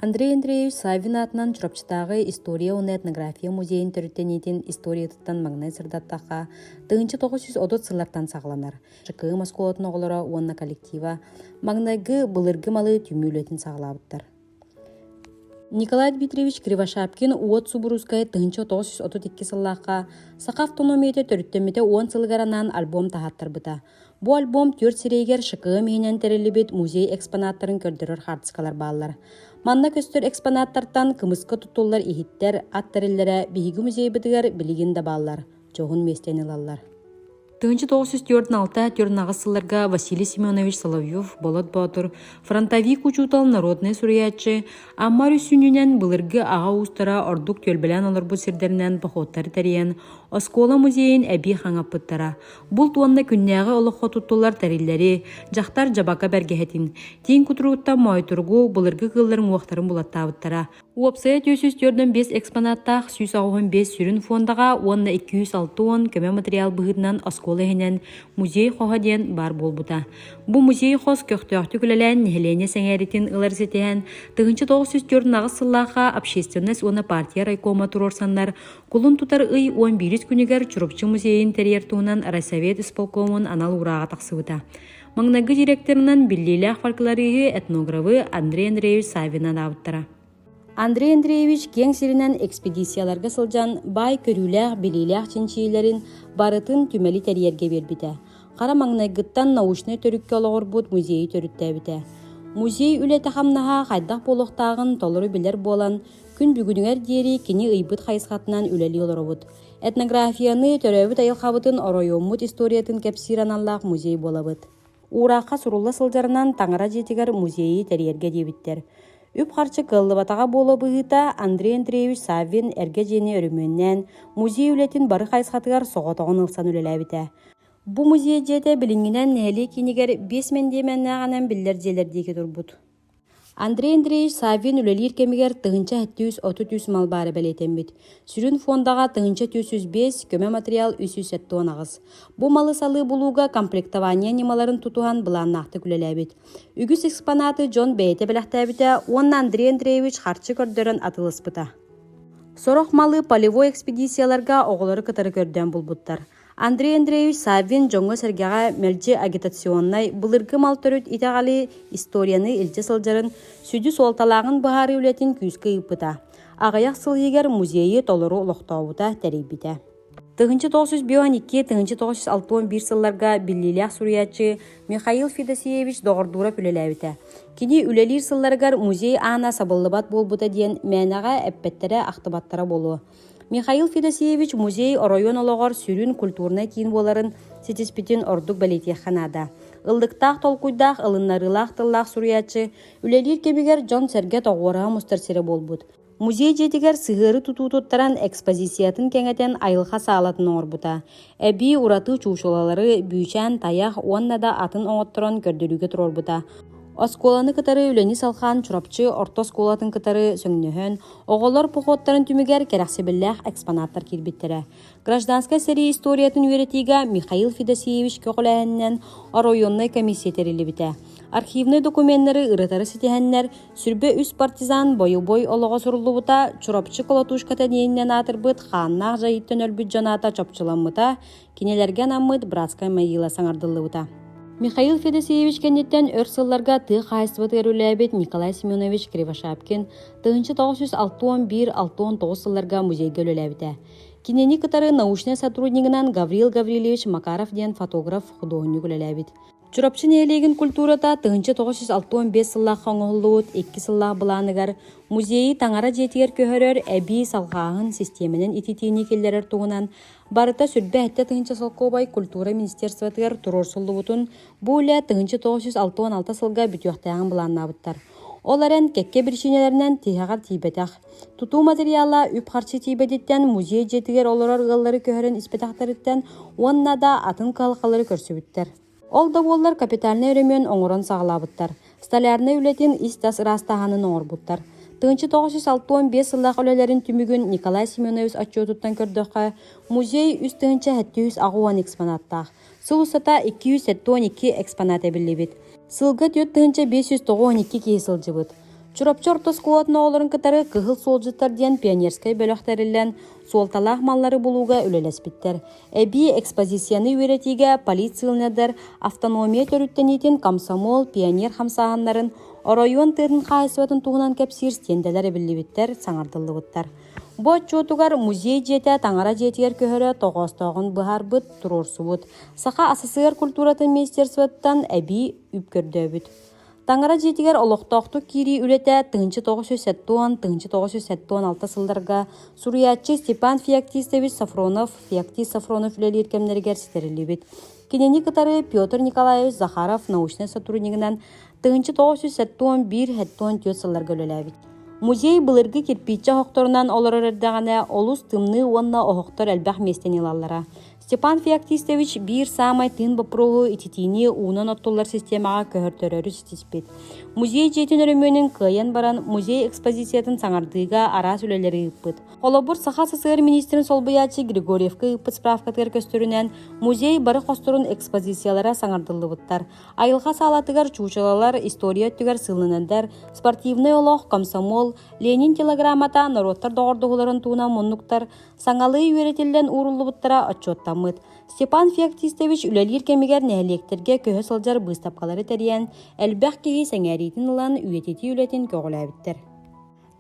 Андрей Андреевич Савин аатынан Чурапчытааҕы история уонна этнография музейин төрүттэниитин историятыттан маҥнай сырдаттахха, тыһыынча тоҕус жүз отут сыллартан саҕаланар. Чыкыым оскуолатын оҕолоро уонна коллектива маҥнайгы былыргы малы түмүү үлэтин саҕалаабыттар. Николай Дмитриевич Кривошапкин уот субуруускай тыһынча тоҕус сүүс отут икки сыллаахха саха автономиятэ төрүттэммитэ уон сылыгар анаан альбом таһааттарбыта. Бу альбом түөрт сирэйигэр ШКМ иһинэн тэриллибит музей экспонаттарын көрдөрөр хаартыскалар бааллар. Манна көстөр экспонаттартан кымыска тутуллар иһиттэр, ат тэриллэрэ биһиги музейбытыгар билигин да бааллар. дьоһун миэстэни ылаллар тыһыынча тоҕус жүз төрт алта төрт аҕыс сылларга Василий Семенович Соловьев Болот Боотур фронтовик учуутал народнай суруйааччы Амар үссүнүнэн былыргы аҕа уустара ордук түөлбэлээн олорбут сирдэринэн походтары тэрийэн оскуола музейин эбии хаҥаппыттара булт уонна күннээҕи олоххо туттулар тэриллэри дьахтар дьабака бэргэһэтин тиин кутуругуттан моойторгу былыргы кыылларын уохтарын булаттаабыттара Уопсайа түөрт сүүс төрдөн биэс экспонаттаах сүүс аҕыһын биэс сүрүн фондаҕа уонна икки үс алта уон көмө материал быһыытынан оскуола иһинэн музей хоһа диэн баар буолбута. Бу музей хос көхтөөхтүк үлэлээн нэһилиэнньэ сэҥээриитин ылар ситиһэн тыһыынча тоҕус сүүс төрт аҕыс сыллаахха общественность уонна партия райкома туруорсаннар кулун тутар ый уон биирис күнүгэр Чурупчу музейын тэрийэр туһунан райсовет исполкомун анал урааҕа тахсыбыта. Маҥнайгы директорынан биллиилээх фольклориһы, этнографы Андрей Андреевич Савинан аабыттара. Андрей Андреевич киэҥ сиринэн экспедицияларга сылдьан баай көрүүлээх-билиилээх чинчийиилэрин барытын түмэли тэрийэргэ биэрбитэ. Хара маҥнайгыттан научнай төрүккэ олоҕурбут музейи төрүттээбитэ. Музей үлэтэ-хамнаһа хайдах буолуохтааҕын толору билэр буолан, күн бүгүнүгэр диэри кини ыйбыт хайысхатынан үлэлии олоробут. Этнографияны, төрөөбүт айылҕабытын, оройуоммут историятын кэпсиир аналлаах музей буолабыт. Уураахха сурулла сылдьарынан таҥара дьиэтигэр музейы тэрийэргэ диэбиттэр. Үп-харчы кыаллыбатаҕа буола быһыыта, Андрей Андреевич Саввин эргэ дьиэни өрөмүөннээн, музей үлэтин бары хайысхатыгар соҕотоҕун ылсан үлэлээбитэ. Бу музей дьиэтэ билиҥҥинэн нэһилиэк киинигэр биэс мэндиэмэннээх анам биллэр дьиэлэр диэки турбут. Андрей Андреевич Саввин үлэлиир кэмигэр тыһыынча сэттис сүүс отут үс мал баара бэлиэтэммит. Сүрүн фондаҕа тыһыынча түс үс биэс, көмө матырыйаал үс сүүс сэттэ уон аҕыс. Бу малы салыы булууга комплектование ньымаларын тутуһан былааннаахтык үлэлээбит. Үгүс экспонаты дьон бэйэтэ бэлэхтээбитэ уонна Андрей Андреевич харчы көрдөрөн атылыспыта. Сорох малы полевой экспедицияларга оҕолору кытары көрдөөн булбуттар. Андрей Андреевич Саввин дьоҥҥо-сэргэҕэ мэлдьи агитационнай, былыргы мал төрүт итэҕэли, историяны илдьэ сылдьарын, сүдү суолталааҕын быһаарыы үлэтин күүскэ ыыппыта. Аҕыйах сыл иһигэр музейы толору олохтообута, тэрийбитэ. Тыһыынча тоҕус жүз бион икки, тыһыынча тоҕус жүз алты уон биир сылларга биллиилээх суруйааччы Михаил Федосеевич доҕордуура үлэлээбитэ. Кини үлэлиир сылларыгар музей аана сабыллыбат буолбута диэн мээнэҕэ эппэттэрэ-ахтыбаттара буолуо. Михаил Федосеевич музей оройуон олоҕор сүрүн культурнай киин буоларын ситиспитин ордук бэлиэтиэххэ наада. Ыллыктаах толкуйдаах, ылыннарыылаах тыллаах суруйааччы, үлэлиир кэмигэр дьон-сэргэ тоҕуораһа мустар сирэ буолбут. Музей дьиэтигэр сыһыары тутуу туттаран экспозициятын кэҥэтэн айылҕа саалатын оҥорбута. эбии ураты чуучулалары Бүүчээн тайах уонна да атын оҥотторон көрдөрүүгэ туруорбута. Оскуоланы кытары үлэни салҕаан Чурапчы орто оскуолатын кытары сөҥнөһөн, оҕолор походтарын түмүгэр кэрэхсэбиллээх экспонаттар киирбиттэрэ. Гражданскай сэрии историятын үөрэтиигэ Михаил Федосеевич көҕүлээһининэн оройуоннай комиссия тэриллибитэ. Архивнай докуменнары ырытары ситиһэннэр, Сүрбэ үс партизан бойобуой олоҕо суруллубута, Чурапчы колотушкатын иэнинэн аатырбыт хааннаах дьайыттан өлбүт дьанаата чопчуламмыта, кинилэргэ анаммыт братскай могила саҥардыллыбыта. Михаил Федосеевич кэнниттэн өр сылларга тыа хаһаайыстыбатыгар үлэлээбит Николай Семенович Кривошапкин тыһыынча тоҕус жүз алтан биир алтан тоҕус сылларга музейгэ үлэлээбитэ. Кинини кытары научнай сотруднигынан Гаврил Гаврильевич Макаров диэн фотограф-худуоһунньук үлэлээбит. Чурапчы нэһилиэгин культурата тыһыынча тоҕус жүз алта уон биэс сыллаахха оҥоһуллубут икки сыллаах былааныгар музейы таҥара дьиэтигэр көһөрөр эбии салҕааһын систиэмэнэн ититиини киллэрэр туһунан барыта сүрбэ-сэттэ тыһыынча солкуобай культура министерствотыгар туруорсуллубутун бу үлэ тыһыынча тоҕус жүз алта уон алта сылга бүтүөхтээҕин былааннаабыттар. Ол эрэн кэккэ биричиинэлэринэн тиһэҕэр тиийбэтэх. Тутуу матырыйаала үп-харчы тиийбэтиттэн музей дьиэтигэр олорор ыаллары көһөрөн испэтэхтэриттэн уонна да атын кыһалҕалары көрсүбүттэр. Ол да буоллар капитальнай өрөмүөн оҥорон саҕалаабыттар, столярнай үлэтин ис-тас ыраастааһынын оҥорбуттар. Тыынча тоҕус сүүс алтыан сыллаах үлэлэрин түмүгүн Николай Семенович отчуотуттан көрдөххө, музей үс тыһыынча сэттис аҕыс уон экспонаттаах, Сыл устата 272 экспонат эбиллибит. Сылга түөрт тыһыынча биэс сүүс тоҕус он киһи сылдьыбыт. Чурапчы орто оскуолатын оҕолорун кытары Кыһыл суолдьуттар диэн пионерскай бөлөх тэриллэн, суолталаах маллары булууга үлэлэспиттэр. Эбии экспозицияны үөрэтиигэ полицияланардар автономия төрүттэниитин комсомол, пионер хамсааһыннарын, оройуон тыатын хаһаайыстыбатын туһунан кэпсиир стендэлэр эбиллибиттэр, саҥардыллыбыттар. Бу отчуотугар музей дьиэтэ таҥара дьиэтигэр көһөрө тоҕоостооҕун быһаарбыт, туруорсубут. Саха СССР культуратын министерствоттан эбии үп көрдөөбүт. Таҥара дьиэтигэр олохтоохтук киирии үлэтэ 1980-1960 сылларга суруйааччы Степан Феоктистович Сафронов Феоктист Сафронов үлэлиир кэмнэригэр ситэриллибит. Кинини кытары Петр Николаевич Захаров научнай сотруднигынан тыһыынча тоҕус жүз сэттэ уон биир сэттэ уон түөрт сылларга үлэлээбит. Музей былыргы кирпииччэ оһохторунан олорор эрдэҕинэ олус тымныы уонна оһохтор элбэх миэстэни ылаллара. Степан Феоктистович биир саамай тыын боппуруоһу ититиини уунан оттуллар системаҕа көһөртөрөрү ситиспит. Музей дьиэтин өрөмүөнүн кыайан баран музей экспозициятын саҥардыыга араас үлэлэри ыыппыт. Холобур, Саха СССР министрин солбуйааччы Григорьевка ыыппыт справкатыгар көстөрүнэн, музей бары хосторун экспозициялара саҥардыллыбыттар. Айылҕа саалатыгар чуучалалар, история өттүгэр сылынандар, спортивный олох, комсомол, Ленин телеграммата норуоттар доҕордоһууларын туһунан муннуктар, саҥалыы үөрэтиллэн ууруллубуттара отчуоттаммыт. Степан Феоктистович үлэлиир кэмигэр нэһилиэктэргэ көһө сылдьар быыстапкалары тэрийэн, элбэх киһи сэҥээриитин ылан үйэтитии үлэтин көҕүлээбиттэр.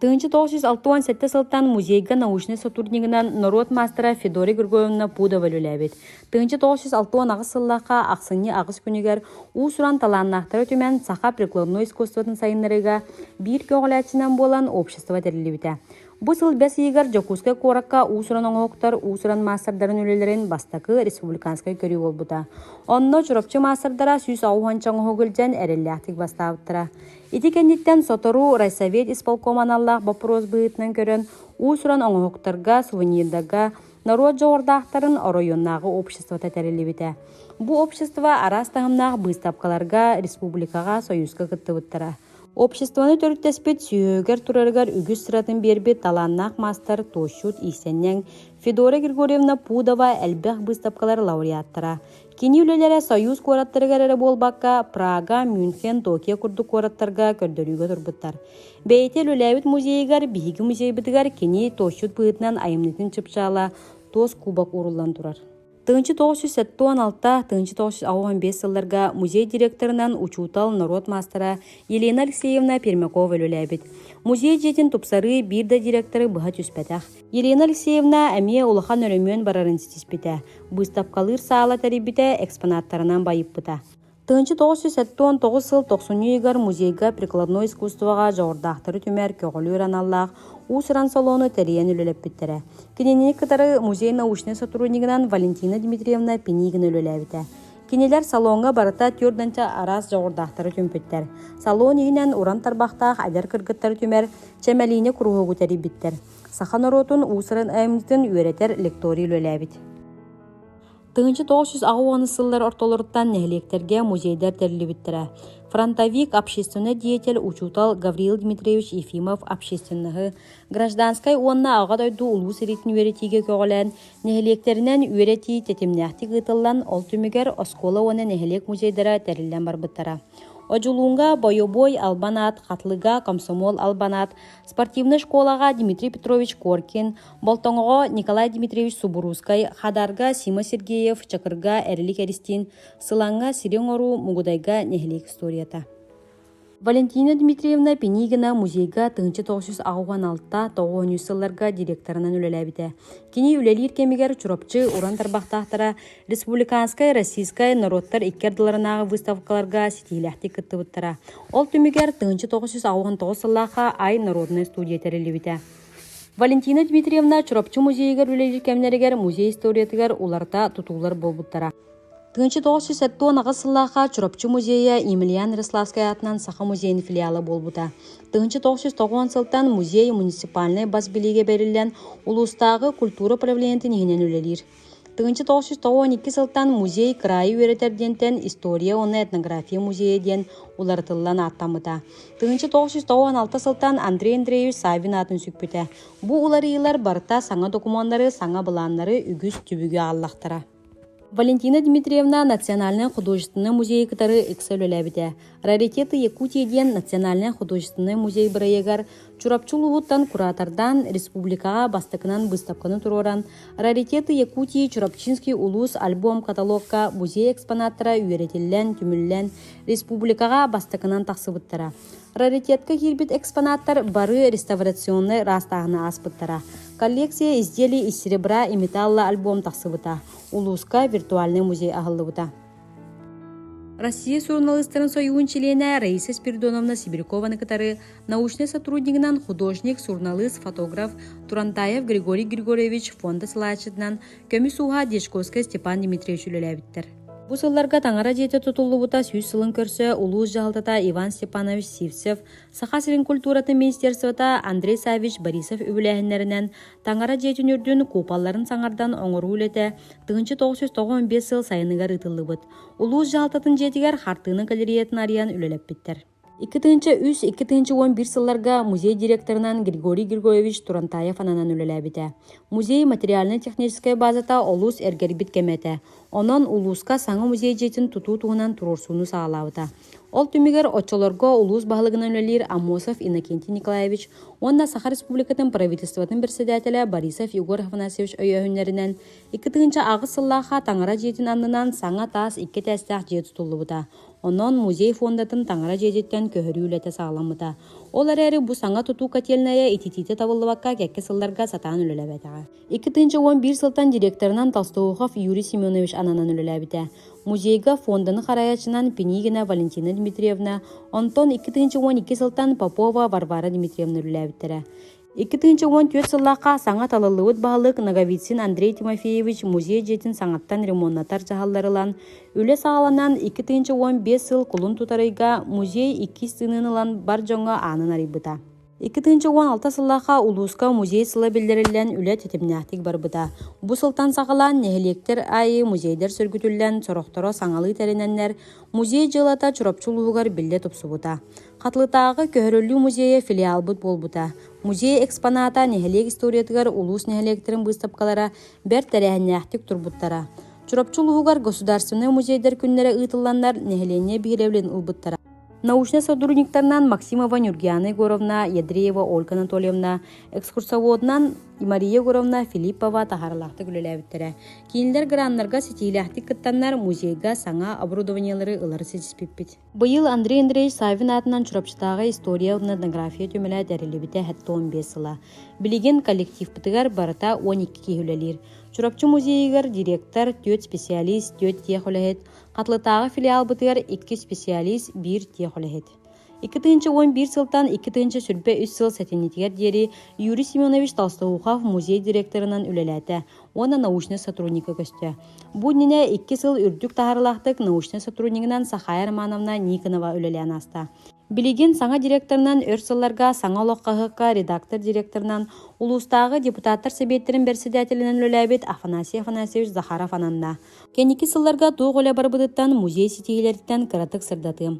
Тыһыынча тоҕус жүз алта уон сэттэ сылтан музейга научнай сотруднигынан норуот маастара Федория Григорьевна Пудова үлэлээбит. Тыһыынча тоҕус жүз алта уон аҕыс сыллаахха ахсынньы аҕыс күнүгэр уус-уран талааннаахтары түмэн саха прикладное искусствотын сайыннарыыга биир көҕүлээччинэн буолан общество тэриллибитэ. Бу сыл бэс ыйыгар Дьокуускай куоракка уус-уран оҥоһуктар уус-уран маастардарын үлэлэрин бастакы республиканскай көрүү буолбута. Онно Чурапчы маастардара сүүс аҕыс уонча оҥоһук илдьэн эрэллээхтик бастаабыттара. Ити кэнниттэн сотору райсовет исполком аналлаах боппуруос быһыытынан көрөн уус-уран оҥоһуктарга, сувенирдарга норуот дьоҕурдаахтарын оройуоннааҕы обществота тэриллибитэ. Бу общество араас таһымнаах быыстапкаларга, республикаҕа, союзка кыттыбыттара. Обществоны төрүттэспит сүһүөгэр турарыгар үгүс сыратын биэрбит талааннаах маастар туощут Иисэнньэҥ, Федора Григорьевна Пудова элбэх быыстапкалар лауреаттара, Кини үлэлэрэ Союз куораттарыгар эрэ буолбакка, Прага, Мюнхен, Токио курдук куораттарга көрдөрүүгэ турбуттар. Бэйэтэ үлэлээбит музейыгар, биһиги музейбытыгар кини туосчут быһыытынан айымньытын чыпчаала туос кубок ууруллан турар. Тыынчы 1976 тыынчы 1995 сылларга музей директорынан учуутал норуот маастара Елена Алексеевна Пермякова үлэлээбит. Музей дьиэтин тупсарыы биир да директоры быһа түспэтэх. Ирина Алексеевна эмиэ улахан өрөмүөн барарын ситиспитэ, быыстапкалыыр саала тэрийбитэ, экспонаттарынан байыппыта. 1979 сыл тохсунньу ыйыгар музейга прикладное искусствоҕа дьоҕурдаахтары түмэр көҕүлүүр аналлаах уус-уран салону тэрийэн үлэлэппиттэрэ. Кинини кытары музей научнай сотруднигынан Валентина Дмитриевна Пинигина үлэлээбитэ. Кинилэр салоҥҥа барыта төрдөнчө араас дьоҕурдаахтары түмпүттэр. Салон иһинэн уран тарбахтаах адьар кыргыттары түмэр, чэмэлиини куруһуогу тэрийбиттэр. Саха норуотун уусарын айымньытын үөрэтэр лекторий үлэлээбит. Тыгынчы 909 сыллар ортолоруттан нэһилиэктэргэ музейдэр тэриллибиттэрэ. Фронтовик, общественный деятель, учутал Гавриил Дмитриевич Ефимов общественныһы, гражданскай уонна аҕа дойду улуу сэриитин үөрэтиигэ көҕүлээн, нэһилиэктэринэн үөрэтии тэтимнээхтик ыытыллан, ол түмүгэр оскуола уонна нэһилиэк музейдара тэриллэн барбыттара. Одьулуунга бойобуой албан аат, Хатылыга комсомол албан аат, спортивнай школаҕа дмитрий петрович коркин болтоҥоҕо николай дмитриевич субуруускай хадаарга сима сергеев чакырга эрилик эристиин сылаҥҥа сири оҥоруу мугудайга нэһилиэк историята валентина дмитриевна пенигина музейга тыһынча тоҕус жүз аҕыан алта тоҕуонньу сылларга директорынан үлэлээбитэ кини үлэлиир кэмигэр чурапчы уран тарбахтаахтара Республиканскай Российскай норуоттар икки ардыларынааҕы выставкаларга ситиилээхтик кыттыбыттара. Ол түмүгэр тыһыынча тоҕус жүз аҕыһын тоҕус сыллаахха Ай норуодунай студия тэриллибитэ. Валентина Дмитриевна Чурапчы музейыгар үлэлиир кэмнэригэр музей историятыгар уларыта тутуулар буолбуттара. Тыһыынча тоҕус жүз сэттэ уон аҕыс сыллаахха Чурапчы музейа Емельян Рославскай аатынан Саха музейин филиала буолбута. Тыһыынча тоҕус жүз тоҕуон сылтан музей муниципальнай бас билиигэ бэриллэн, улуустааҕы культура правлениетин иһинэн үлэлиир. Тыһыынча тоҕус сүүс оҕо икки сылтан музей кыраайы үөрэтэр диэнтэн история уонна этнография музейа диэн уларытыллан ааттаммыта. Тыһыынча тоҕус сүүс тоҕуон алта сылтан Андрей Андреевич Савин аатын сүкпүтэ. Бу уларыйыылар барыта саҥа докумуоннары, саҥа былааннары үгүс түбүгү ааллахтара. Валентина Дмитриевна Национальнай художественнай музейы кытары ыкса үлэлээбитэ. Раритеты Якутии диэн национальнай художественнай музей бырайыгар Чурапчы улууһуттан куратордаан республикаҕа бастакынан быыстапканы туруоран Раритеты Якутии Чурапчинский улуус альбом-каталогка музей экспонаттара үөрэтиллэн, түмүллэн республикаҕа бастакынан тахсыбыттара. Раритетка киирбит экспонаттар бары реставрационнай ыраастааһыны ааспыттара. Коллекция изделий из серебра и металла альбом тахсыбыта. Улууска виртуальный музей аһыллыбыта. Россия суруналыыстарын сойуун чилиэнэ Раиса Спиридоновна Сибирякованы кытары научнай сотруднигынан художник, суруналыыс, фотограф Турантаев Григорий Григорьевич Фонда салааччытынан көмүс ууһа Дьячковская Степан Дмитриевич үлэлээбиттэр. Бу сылларга таҥара дьиэтэ тутуллубута сүүс сылын көрсө улуус дьаһалтата Иван Степанович Сивцев, Саха сирин культуратын министерствота Андрей Савич Борисов үбүлээһиннэринэн Таҥара дьиэтин үрдүн куупалларын саҥардан оҥоруу үлэтэ тыһыынча тоҕус жүз тоҕон биэс сыл сайыныгар ыытыллыбыт. Улуус дьаһалтатын дьиэтигэр хартыына галереятын арыйан үлэлэппиттэр. Икки тыһыынча үс, икки тыһыынча уон биир сылларга музей директорынан Григорий Григорьевич Турантаев ананан үлэлээбитэ. Музей материально-техническэй базата олус эргэрбит кэмэ этэ. Онон улууска саҥа музей дьиэтин тутуу туһунан туруорсууну саҕалаабыта. Ол түмүгэр оччолорго улуус баһылыгынан үлэлиир Амосов Иннокентий Николаевич уонна Саха Республикатын Правительствотын председателэ Борисов Егор Афанасьевич өйөөһүннэринэн икки тыһыынча аҕыс сыллаахха таҥара дьиэтин аннынан саҥа таас икки этээстээх дьиэ тутуллубута. Онон музей фондатын таҥара дьиэтиттэн көһөрүү үлэтэ саҕаламмыта. Ол эрээри бу саҥа тутуу котельнайа ититиитэ табыллыбакка кэкки сылларга сатаан үлэлэбэтэҕэ. Икки тыынча уон биир сылтан директорынан Толстоухов Юрий Семенович ананан үлэлээбитэ. Музейга фонданы харайачынан Пинигина Валентина Дмитриевна, онтон икки тыынча уон икки сылтан Попова Варвара Дмитриевна үлэлээбиттэрэ. Икки тыынча уон түөрт сыллаахха саҥа талыллыбыт баһылык Ноговицын Андрей Тимофеевич музей дьиэтин саҥаттан ремоннатар дьаһаллар ылан, үлэ саҕаланан икки тыынча уон биэс сыл кулун тутарыйга музей иккис тыынын ылан бар дьоҥҥо аанын арыйбыта. Икки тыһыынча уон алта сыллаахха улууска музей сыла биллэриллэн үлэ тэтимнээхтик барбыта. Бу сылтан саҕалаан нэһилиэктэр аайы музейдэр сөргүтүллэн, сорохторо саҥалыы тэринэннэр, музей дьыалата Чурапчы улууһугар биллэ тупсубута. Хатылытааҕы көһөрүллүү музейа филиалбыт буолбута. Музей экспоната нэһилиэк историятыгар улуус нэһилиэктэрин быыстапкалара бэрт тэрээһиннээхтик турбуттара. Чурапчы улууһугар государственнай музейдэр күннэрэ ыытылланнар, нэһилиэнньэ биһирэбилин ылбыттара. научнай сотрудниктарынан максимова нюргиана егоровна ядреева ольга анатольевна экскурсоводунан мария егоровна филиппова таһарылаахтык үлэлээбиттэрэ кинилэр граннарга ситиилээхтик кыттаннар музейга саҥа оборудованиелары ылары ситиспиппит быйыл андрей андреевич савин аатынан чурапчытааҕы история этнография түмэлэ тэриллибитэ хэттэ он биэс сыла билигин коллективпытыгар барыта он икки киһи үлэлиир чурапчы музейыгар директор түөрт специалист түөрт тиэх үлэһит Атлытааҕы филиалбытыгар икки исписиалиис, биир тех үлэһит. Икки тыынча уон биир сылтан икки тыынча сүрбэ үс сыл сэтинньитигэр диэри Юрий Семенович Толстоухов музей директорынан үлэлээтэ уонна научнай сотрудника көстө. Бу иннинэ икки сыл үрдүк таһаарылаахтык научнай сотруднигынан Сахая Романовна Никонова үлэлээн ааста. Билигин саҥа директорынан өр сылларга саҥа олох хаһыакка редактор директорынан улуустааҕы депутаттар сэбиэттэрин бэрэссэдээтэлинэн үлэлээбит Афанасий Афанасьевич Захаров ананна. Кэнники сылларга туох үлэ барбытыттан музей ситиһиилэриттэн кыратык сырдатыым.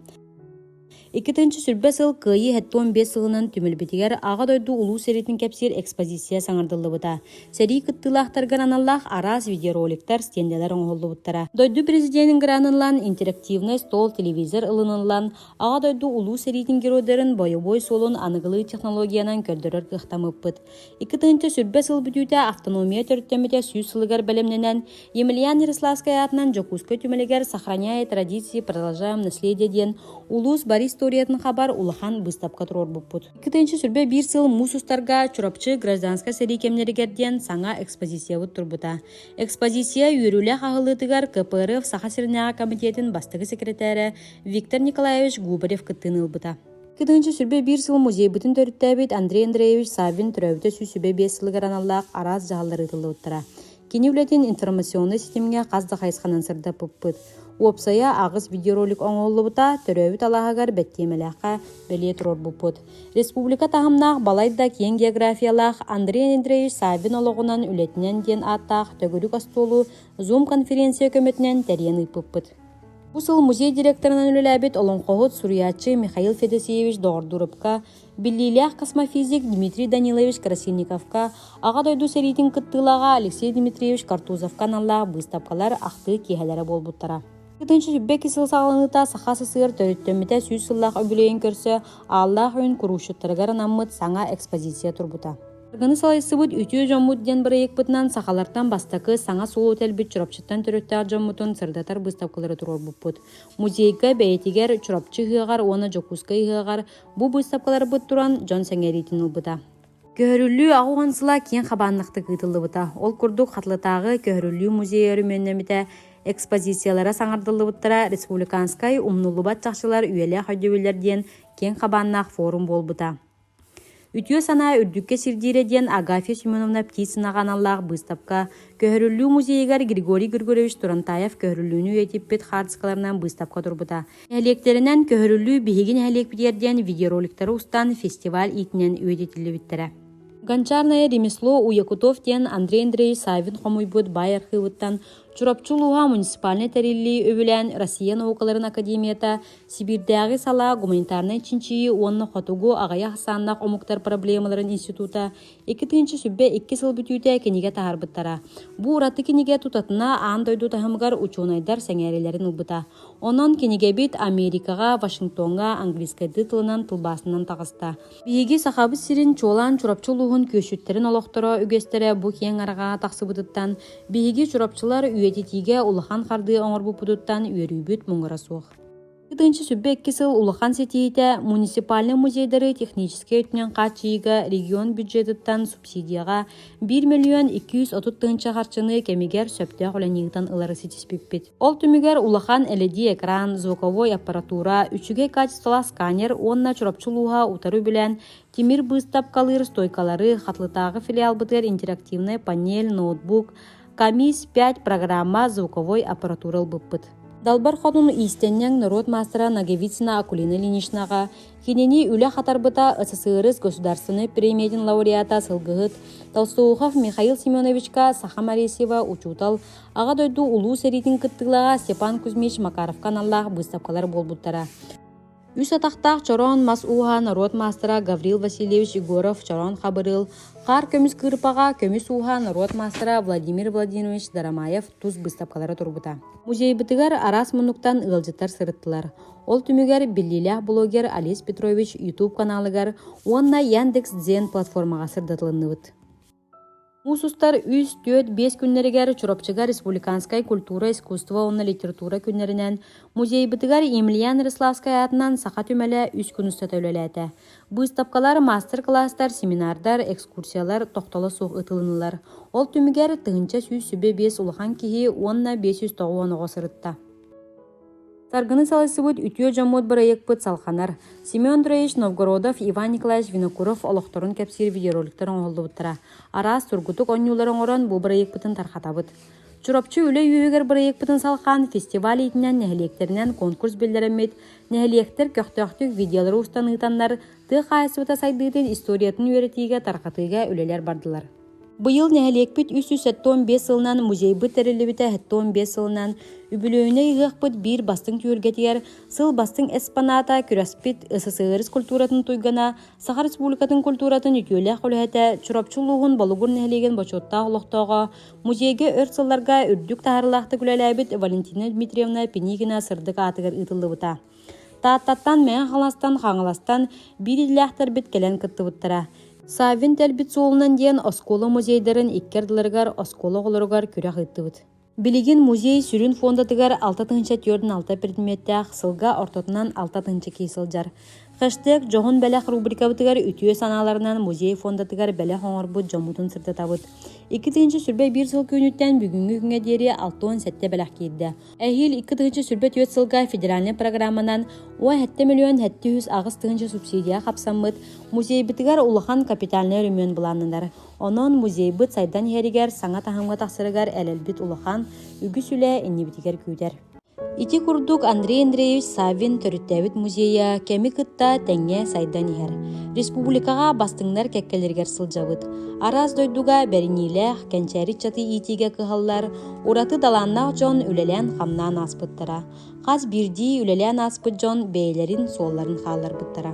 Иккитинчи сүрбэ сыл Кыайыы 75 сылынан түмүлбүтүгэр Аҕа дойду улуу сэриитин кэпсиир экспозиция саҥардыллыбыта. Сэрии кыттыылаахтаргар аналлаах араас видеороликтар, стендэлэр оҥоһуллубуттара. Дойду президенин граныллан, интерактивный стол телевизор ылыныллан, Аҕа дойду Улуу сэриитин геройдарын бойобуой суолун аныгылыы технологиянан көрдөрөр кыахтаммыппыт. Икки тыһыынча сүрбэ сыл бүтүүтэ автономия төрүттэммитэ сүүс сылыгар бэлэмнэнэн, Емельян Ярославскай аатынан Дьокуускай түмэлигэр «Сохраняя традиции, продолжаем наследие» диэн улуус бар историятын хабар улахан быыстапка туруорбуппут. Икки тыһыынча сүрбэ биир сыл муус устарга Чурапчы гражданскай сэрии кэмнэригэр диэн саҥа экспозициябыт турбута. Экспозиция үөрүүлээх аһыллыытыгар КПРФ Саха сиринээҕи комитетин бастакы секретаря Виктор Николаевич Губарев кыттыыны ылбыта. Кытыынча сүрбэ биир сыл музейбытын төрүттээбит Андрей Андреевич Саввин төрөөбүтэ сүүс сүбэ биэс сылыгар аналлаах араас дьаһаллар ыытыллыбыттара. Кини үлэтин информационнай ситимҥэ хас да хайысханан сырдаппыппыт. Уопсайа аҕыс видеоролик оҥоһуллубута, төрөөбүт алааһыгар бэттиэмэлээххэ бэлиэ туруорбуппут. Республика таһымнаах балайда киэҥ географиялаах Андрей Андреевич Саввин олоҕунан үлэтинэн диэн ааттаах төгүрүк остуолу Zoom-конференция көмөтүнэн тэрийэн ыыппыппыт. Бу сыл музей директорынан үлэлээбит олоҥхоһут, суруйааччы Михаил Федосеевич Доҕордуурупка, биллиилээх космофизик Дмитрий Данилович Красильниковка, Аҕа дойду сэриитин кыттыылааҕа Алексей Дмитриевич Картузовка аналлаах быыстапкалар ахтыы киэһэлэрэ буолбуттара. Ытынчы сүббэки сыл саҕаланыыта Саха СССР төрүттэммитэ сүүс сыллаах үбүлүөйүн көрсө Ааллаах Үүн куруушчуттарыгар анаммыт саҥа экспозиция турбута. Аргыны салайсыбыт Үтүө дьоммут диэн бырайыакпытынан сахалартан бастакы саҥа суолу тэлбит Чурапчыттан төрүттээх дьоммутун сырдатар быыстапкалары туруорбуппут. Музейга бэйэтигэр Чурапчы ыһыаҕар уонна Дьокуускай ыһыаҕар бу быыстапкаларбыт туран дьон сэҥэриитин ылбыта. Көһөрүллүү аҕа уон сыла киэҥ хабааннахтык ыытыллыбыта. Ол курдук Хатылытааҕы көһөрүллүү музей өрөмүөннэммитэ экспозициялара саҥардыллыбыттара республиканскай умнуллубат чахчылар үйэлээх өйдөбүллэр диэн киэҥ хабааннаах форум буолбута. Үтүө санаа үрдүккэ сирдиирэ диэн Агафья Семеновна Птицынаҕа аналлаах быыстапка Көһөрүллүү музейыгар Григорий Григорьевич Турантаев көһөрүллүүнү үйэтиппит хаартыскаларынан быыстапка турбута. Нэһилиэктэринэн «Көһөрүллүү биһиги нэһилиэкпитигэр» диэн видеороликтары устан фестиваль иитинэн үйэтитиллибиттэрэ. Гончарное ремесло Уякутов диэн Андрей Андреевич Савин хомуйбут баай архыыбыттан Чурапчы улууһа муниципальнай тэриллии үбүлээн Россия наукаларын академията Сибиирдээҕи салаа гуманитарнай чинчийии уонна хотугу аҕыйах ахсааннаах омуктар проблемаларын института икки тыһыынча сүбэ икки сыл бүтүүтэ кинигэ таһаарбыттара. Бу ураты кинигэ тутатына аан дойду таһымыгар учуонайдар сэҥээриилэрин ылбыта. Онон кинигэбит Америкаҕа, Вашингтоҥҥа английскай тылынан тылбаасынан таҕыста. Биһиги Сахабыт сирин чуолаан Чурапчы улууһун күөсчүттэрин олохторо үгэстэрэ бу киэҥ арҕаа тахсыбытыттан биһиги чурапчылар үйэтитиигэ улахан хардыы оҥорбуппутуттан үөрүүбүт муҥура суох. Ытынчы сүббэ икки сыл улахан ситиитэ муниципальнай музейдары техническэй өттүнэн хааччыйыыга регион бюджетыттан субсидияҕа 1 миллион 230 тыһыынча харчыны кэмигэр сөптөөх үлэни ыытан ылары ситиспиппит. Ол түмүгэр улахан LED экран, звуковой аппаратура, үчүгэй качестволаах сканер уонна Чурапчы улууһа утары билэн тимир быыстапкалыыр стойкалары, Хатылытааҕы филиалбытыгар интерактивнай панель, ноутбук, КАМИС 5 программа звуковой аппаратура ылбыппыт. Далбар хотуну иистеннең норуот мастера Наговицына Акулина Ленишнаға, кинини үле хатарбыта СССР государственный премиятин лауреата Сылгыһыт Толстоухов Михаил Семеновичка Саха Маресьева учутал аға дойду улуу серитин кыттылаға Степан Кузьмич Макаровка наллах выставкалар болбуттара. Үс атахтаах чороон мас ууһа норуот маастара Гаврил Васильевич Егоров чороон хабырыыл, хаар көмүс кыырпаҕа көмүс ууһа норуот маастара Владимир Владимирович Дарамаев тус быыстапкалара турбута. Музейбытыгар араас мунуктан ыалдьыттар сырыттылар. Ол түмүгэр биллиилээх блогер Олесь Петрович YouTube каналыгар уонна Яндекс.Дзен платформаҕа сырдатылынныбыт. Муус устар үс, түөрт, биэс күннэригэр Чурапчыга республиканскай культура, искусство уонна литература күннэринэн музейбытыгар Емельян Рославскай аатынан саха түмэлэ үс күн устата үлэлээтэ. Быыстапкалар, маастар-кылаастар, семинардар, экскурсиялар тохтоло суох ытылыннылар. Ол түмүгэр тыһыынча сүүс сүбэ биэс улахан киһи уонна биэс жүз тоҕуон оҕо сырытта. Саргыны салайсыбыт үтүө дьоммут бырайыакпыт салҕанар. Семен Троевич Новгородов, Иван Николаевич Винокуров олохторун кэпсиир видеороликтар оҥоһуллубуттара. Араас тургутук оонньуулары оҥорон бу бырайыакпытын тарҕатабыт. Чурапчы үлэ үөһүгэр бырайыакпытын салҕаан фестиваль иитинэн нэһилиэктэринэн конкурс биллэрэммит, нэһилиэктэр көхтөөхтүк видеолары устан ыытаннар, тыа хаһаайыстыбата сайдыытын историятын үөрэтиигэ, тарҕатыыга үлэлэр бардылар. Быйыл нэһилиэкпит үс сүүс сэттэ уон биэс сылынан музейбыт тэриллибитэ сэттэ уон биэс сылынан үбүлүөйүнэй ыһыахпыт биир бастыҥ түһүлгэтигэр сыл бастыҥ эспаната күрэспит СССР культуратын туйгана Саха Республикатын культуратын үтүөлээх үлэһитэ Чурапчы улууһун Болугур нэһилиэгин бочуоттаах олохтооҕо музейгэ өр сылларга үрдүк таһаарылаахтык үлэлээбит Валентина Дмитриевна Пинигина сырдык аатыгар ыытыллыбыта. Тааттаттан Мэҥэ Хаҥаластан Хаҥаластан биир иллээхтэрбит кэлэн кыттыбыттара. Саввин тэлбит суолунан диэн оскуола музейдарын икки ардыларыгар оскуола оҕолоругар күрэх ыыттыбыт. Билигин музей сүрүн фондатыгар алта тыһыынча түөртүн алта предметтээх сылга ортотунан алта тыһыынча киһи сылдьар. Хэштег «Дьоһун бэлэх» рубрикабытыгар үтүө санааларынан музей фондатыгар бэлэх оҥорбут дьоммутун сырдатабыт. Икки тыһыынча сүрбэ биир сыл түүнүттэн бүгүҥҥү күҥҥэ диэри алтан сэттэ бэлэх киирдэ. Эһиил икки тыһыынча сүүрбэ түөрт сылга федеральнай программанан уон сэттэ миллион сэттэ жүз аҕыс тыһыынча субсидия хапсаммыт музейбитигэр улахан капитальнай өрөмүөн былааннанар. Онон музейбыт сайдан иһэригэр саҥа таһымҥа тахсарыгар элэлбит улахан үгүс үлэ иннибитигэр күүтэр. Ити курдук Андрей Андреевич Саввин төрүттээбит музейа кэми кытта тэҥҥэ сайдан иһэр. Республикаҕа бастыҥнар кэккэлэригэр сылдьабыт. Араас дойдуга бэриниилээх, кэнчээри ыччаты иитиигэ кыһаллар, Ураты талааннаах дьон үлэлээн-хамнаан ааспыттара. Хас биирдии үлэлээн ааспыт дьон бэйэлэрин суолларын хаалларбыттара.